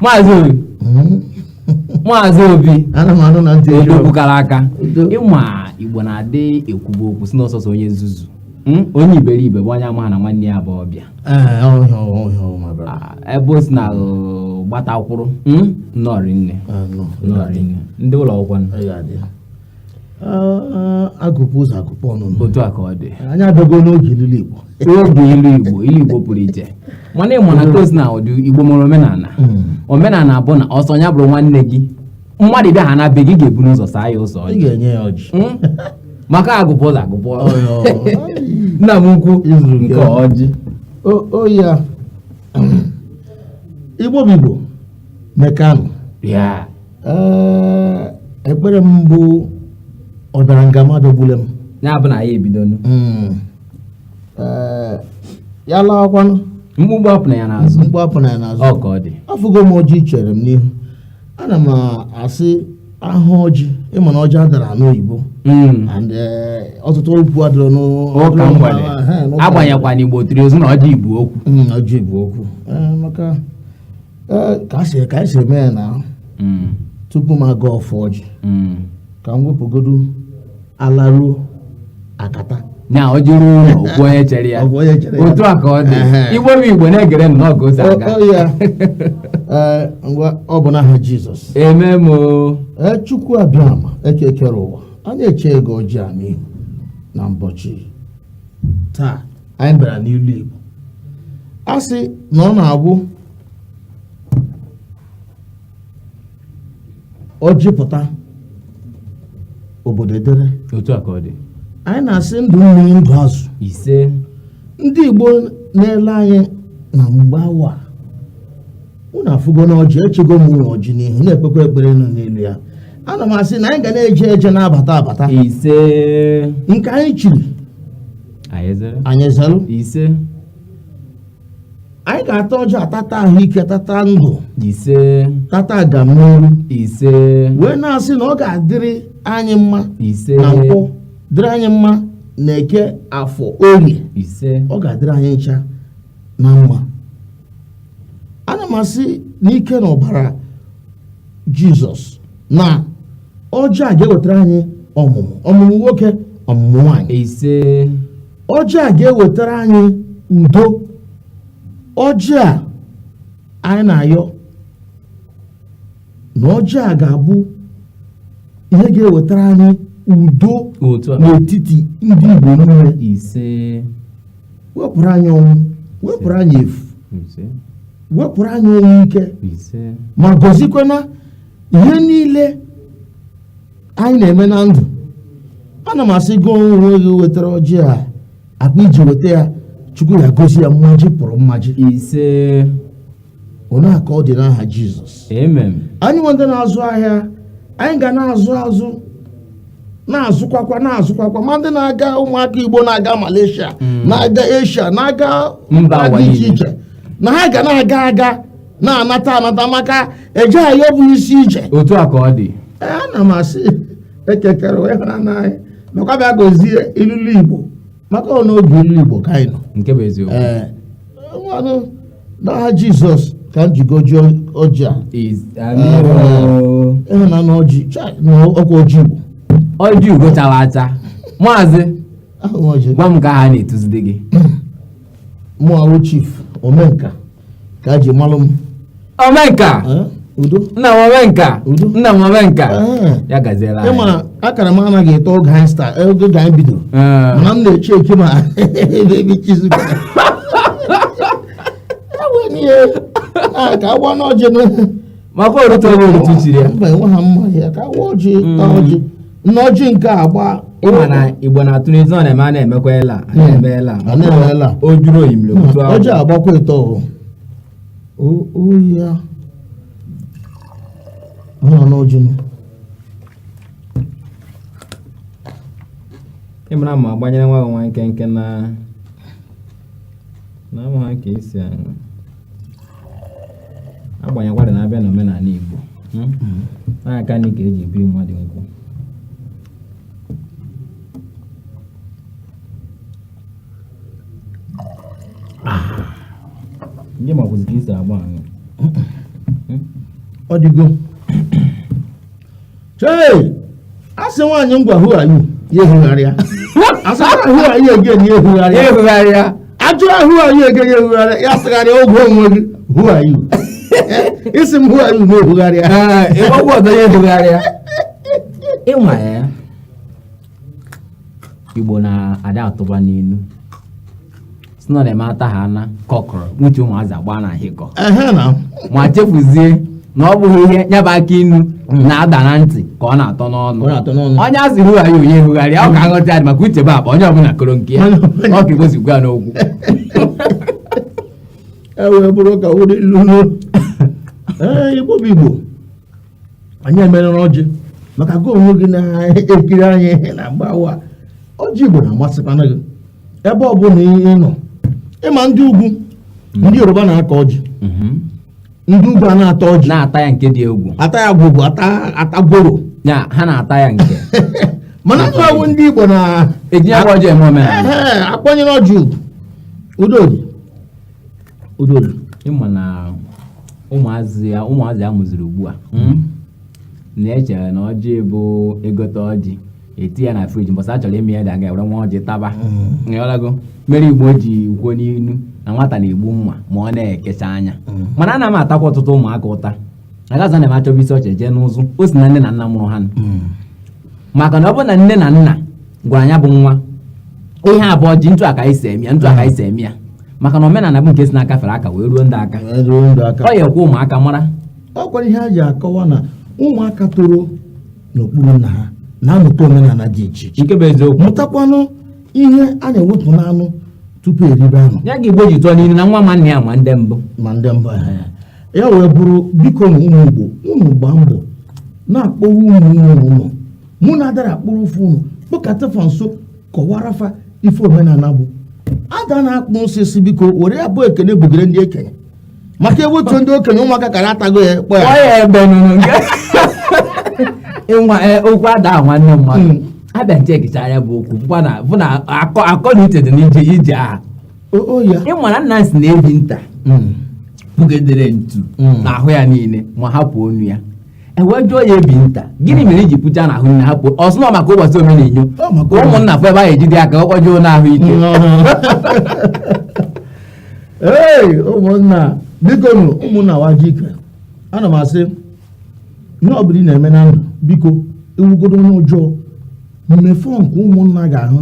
maazị obi hmm? maazị obi odogwu kara aka ị ma igbo na-adị ekwubu okwu sị na ọ sọsọ onye nzuzu Hmm? onye iberibe bụ onye amaha na nwanne ya bụ ọbịa ebe o si na gbata kwụrụ hmm? nnọrị nne ndị ụlọ akwụkwọ agụpụ ụzọ agụpụ ọnụnụ otu a ka ọ dị anyị abịago n'oge ilu igbo oge ilu igbo ilu igbo pụrụ iche mana ị manụ otu o si na ndị igbo nwere omenala hmm. omenala bụ na ọ sọ ya bụrụ nwanne gị mmadụ bịa ha na be gị ị ga-eburu ụzọ saa ya ụzọ ị ga-enye ya ọjị hmm? maka agụpụ ụzọ agụpụ ọnụ ana m ekwu nke ọjị ọ ya igbo bụ igbo mekanụ ekpere m bụ ọ bịara nga m abịagbule m ya bụ na ya ebido hmm. ya lawakwanụ mkpumkpu apụna ya n'azụ mkpumkpu apụna ya n'azụ ọ ka ọ dị afụgo m ọjị i chere m n'ihu ana m asị ahụ ọjị ị ma na ọjị adara anụ oyibo hmm. and eh, ọtụtụ okwu adịrọ n'ụka mgbede agbanyekwa na igbo tiri ozu na ọjị bu okwu hmm, ọjị bu okwu eh, maka eh, ka a si ka anyị si eme ya na hmm. tupu m agọ ọfọ ọjị ka m wepụgodu alaruo akata na ọjị ruo ụlọ o kwuo onye chere ya O kwuo onye chere ya. otu a ka ọ dị Ehe. igbo bụ igbo na-egere m n'oge ụzọ aga Ọ- ọ ya. Ee, ngwa ọ bụ n'aha jizọs amen o. Ee, chukwu abịama eke kere ụwa anyị echego ọjị a n'ihu na mbọchị taa anyị bịara n'ilu igbo a sị na ọ na-abụ ọjị pụta obodo edere otu a ka ọ dị anyị na-asị ndụ mmiri ndụ azụ ise ndị igbo na-ele anyị na mgbe awa a, unu afụgo na ọjị echego m unu ọjị n'ihu na-ekpekwa ekpere nọ n'elu ya ana m asị na anyị ga na-eje eje na-abata abata ise nke anyị chiri anyị zere anyị zelu ise anyị ga-ata ọjị a tata ahụike tata ndụ ise tata agamniru ise wee na-asị na ọ ga-adịrị anyị mma ise na nkwọ dịrị anyị mma na eke afọ orie ise ọ ga-adịrị anyị ncha na mma ana m asị n'ike na ọbara jizọs na ọjị a ga-ewetara anyị ọmụmụ ọmụmụ nwoke ọmụmụ nwaanyị ise ọjị a ga-ewetara anyị udo ọjị a anyị na-ayọ na ọjị a ga-abụ ihe ga-ewetara anyị udo otu a n'etiti ndị Igbo niile ise wepụrụ anyị ọnwụ wepụrụ anyị efu ise wepụrụ anyị ọnwụ ike ise ma gọzikwana ihe niile anyị na-eme na ndụ ana m asị gị onwe gị wetara ọjị a akpa i ji weta ya chukwu ya gozie ya mmaji kwuru mmaji ise ọ na-aka ọ dị n'aha jizọs amen anyịnwa ndị na-azụ ahịa anyị ga na-azụ azụ na-azụkwakwa na-azụkwakwa ma ndị na-aga ụmụaka igbo na-aga malaysia na-aga asia na-aga mba dị iche iche na ha ga na-aga aga na-anata anata maka eje ayọ bụ isi ije otu a ka ọ dị ana m asị eke kere ụwa hụra n'anyị nakwa bịa gozie ilulu igbo maka ọ n'oge ilu igbo ka anyị nọ nke bụ eziokwu ee nwanụ n'aha jizọs ka m ji goji ọjị a ise amen ị hụna na ọjị chai na ọkwa ọjị igbo ọjị ugo chara acha maazị gwa m ka ha na-etuzide gị mụa wụ chief omenka ka a ji malụ m omenka Eh, udo nna m omenka Udo. nna m omenka Eh. ya gaziela anyị. ị ma akara m anaghị eto oge anyị sta oge ga anyị bidoro Eh. mana m na-eche eke ma ebe ebe chizu ka a ka agwa n'ọjị na maka orute ọrụ otu chiri ya mba enwe ha mma ya ka a waa ọjị taa ọjị nna ọjị nke a gbaa ị ma na igbo na-atụ n'ezi ọ na-eme a na-emekwa ela a na-eme ela a na-eme ela o juru oyi mere otu ahụ ọjị a gbakwa ịtọ o oyi ya ọ nọ n'ọjị m ị mara ma agbanyere nwa gị nwa nkenke na na-amụ ha ka esi aṅụ agbanyekwara na a bịa n'omenala Igbo hmm? na-aka nri ka e ji ebi mmadụ nkwụ ndị makwụzi ka esi agba aṅụ ọ dịgo chei asị nwaanyị ngwa who are you ya ehugharịa asị who are you again ya ehugharịa ehugharịa ajụọ ya who are you again ya ehugharịa ya sịgharịa ogwe gị who are you ị sị m who are you na-ehugharịa ịgbagwa ọzọ ya ehugharịa ịma ya Igbo na-ada atụba n'inu sị na ọ na-eme ata ha ana kọkọrọ nwuchi ụmụazị agba na ahịkọ ehe na ma chefuzie na ọ bụghị ihe nya bụ akị inu na-ada na ntị ka ọ na-atọ n'ọnụ onye a sị hụgharịa onye hụgharịa ọ ka nghọta ya dị maka uche bụ akpa onye ọbụla koro nke ya ọ ka igbo si kwuo ya n'okwu e wee bụrụ ka ụdị lulu ee igbo bụ igbo anyị emerere ọjị maka gị onwe gị na-ekiri anyị na mgbawa ọjị igbo na-amasịkwana gị ebe ọ bụla ị nọ ịma ndị ugwu mhm. ndị yoruba na-akọ ọjị mhm. ndị ugwu a na-ata ọjị na-ata ya nke dị egwu ata ya gwụgwụ ata gworo ha na-ata ya nke mana na ọ wụ ndị Igbo na-eji ọjị eme omenala akwanyere ọjị ugwu udo ịma na ụmụazị a mụziri ugbu a hmm? na-echere na ọjị bụ egote ọjị eti ya na friji mbọsị a chọrọ ime ya a gaa were nwa ọjị taba hmm. ịghọtago mere igbo ji kwuo n'inu na nwata na-egbu mma ma ọ na-ekecha anya hmm. mana ana m atakwa ọtụtụ ụmụaka ụta a ga-asị na ma achọba isi ọchị e jee n'ụzụ o si na nne na nna mụrụ ha maka na ọ bụ na nne na nna gwara nya bụ nwa ihe a bụ ọjị etu a ka e si eme ya maka na omenala bụ nke si n'aka fere aka wee ruo ndị aka ọ ya ekwe ụmụaka mara ọ kwara ihe a ji akọwa na ụmụaka toro n'okpuru nna ha na-amụta omenala dị iche iche nke bụ eziokwu mụtakwanụ ihe a na-ewepụ n'anụ tupu eribe anụ ya ka igbo ji tụọ n'ilu na nwa ma nna ya ma ndị mbụ ma ndị mbụ ya wee bụrụ biko na ụmụ igbo unu gbaa mbọ na-akpọwa ụmụ unu ụlọ mụ na adara akpụrụ ụfụ unu kpọkọta fa nso kọwara fa ife omenala bụ ada na-akpụ osisi biko were ya bụ ekene bugere ndị okenye maka ewepụ ndị okenye ụmụaka kara atago ya kpọ ya ịnwa e, okwu ada nwanne mmadụ hmm. abịa nche ekecha ya bụ okwu bụ na akọ na uche dị n'ije aha ịmara na a sị na ebi nta hmm. bugedere ntu hmm. n'ahụ ya niile ma hapụ onu ya ewee jụọ ya ebi nta gịnị mere iji pucha n'ahụ niile hapụ ọ sị na ọ maka ụbọchị omenenyo ka ụmụnna fụ ebe ya ejide aka ọkpọjụo n'ahụ ike ee ụmụnna biko nụ ụmụnna wa ji ike ana m asị ihe ọ bụla ị na-eme na ndụ biko i wụgodo onye ọjọọ mee ife nke ụmụnna ga-ahụ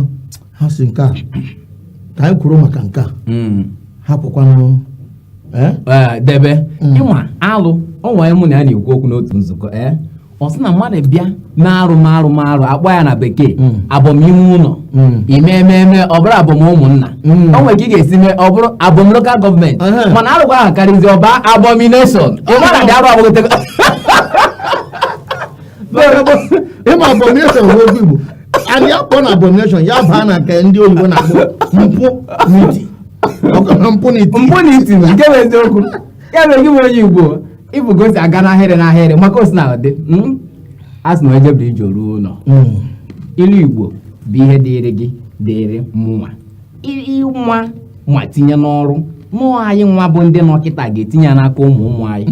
ha sị nke a ka anyị kwuru maka nke a hmm. hapụkwanụ eh? Eh, debe hmm. ịma alụ ọnwa mụ na ya na-ekwu okwu n'otu nzukọ ee eh? ọ sị na mmadụ bịa mee arụ mee arụ mee arụ akpọ ya na bekee hmm. abọm ime ụlọ hmm. i mee i mee ọ bụrụ abọm ụmụnna hmm. o nwere ka ị ga-esi mee ọ bụrụ abọm lokal gọọmenti mana arụkwa ahụ karịzi ọ baa abomination ịmara na arụ agbagotego ịma abomination bụ okwu Igbo anyị akpọ na abomination ya bụ na nke ndị oyibo na-akpọ mpụ n'iti ọkọrọ mpụ n'iti mpụ na iti na nke bụ eziokwu ya mere gị bụ onye igbo ịbụ ka o si aga n'ahịrị n'ahịrị maka o si na-adị mm? a sị na e jebiri ije ruo ụlọ Mm. ilu igbo bụ ihe dịịrị gị dịịrị mụnwa ịnwa ma tinye n'ọrụ mụọ anyị nwa bụ ndị nọ kịta ga-etinye ya n'aka ụmụ ụmụ anyị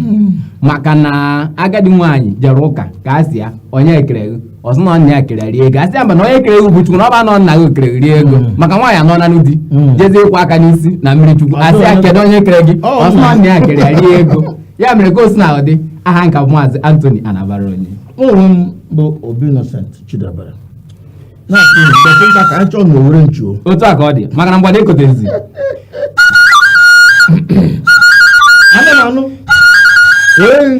maka na agadi nwaanyị jere ụka ka a sị ya onye kere gị ọ sị na nna ya kere rie ego a sị ya mba na onye kere gị bụ chukwu na ọ ba na nna gị kere rie ego maka nwaanyị a nọ na di jezie ịkwa aka n'isi na mmiri chukwu a sị ya kedu onye kere gị ọ sị na nna ya kere rie ego ya mere ka o si na-adị aha m ka bụ maazị Anthony Anabara onye ụmụ m bụ Obi Innocent Chidebere dọkịta ka anyị chọọ na owere nchuo otu a ka ọ dị maka na mgbada ekotezi anụ na anụ ee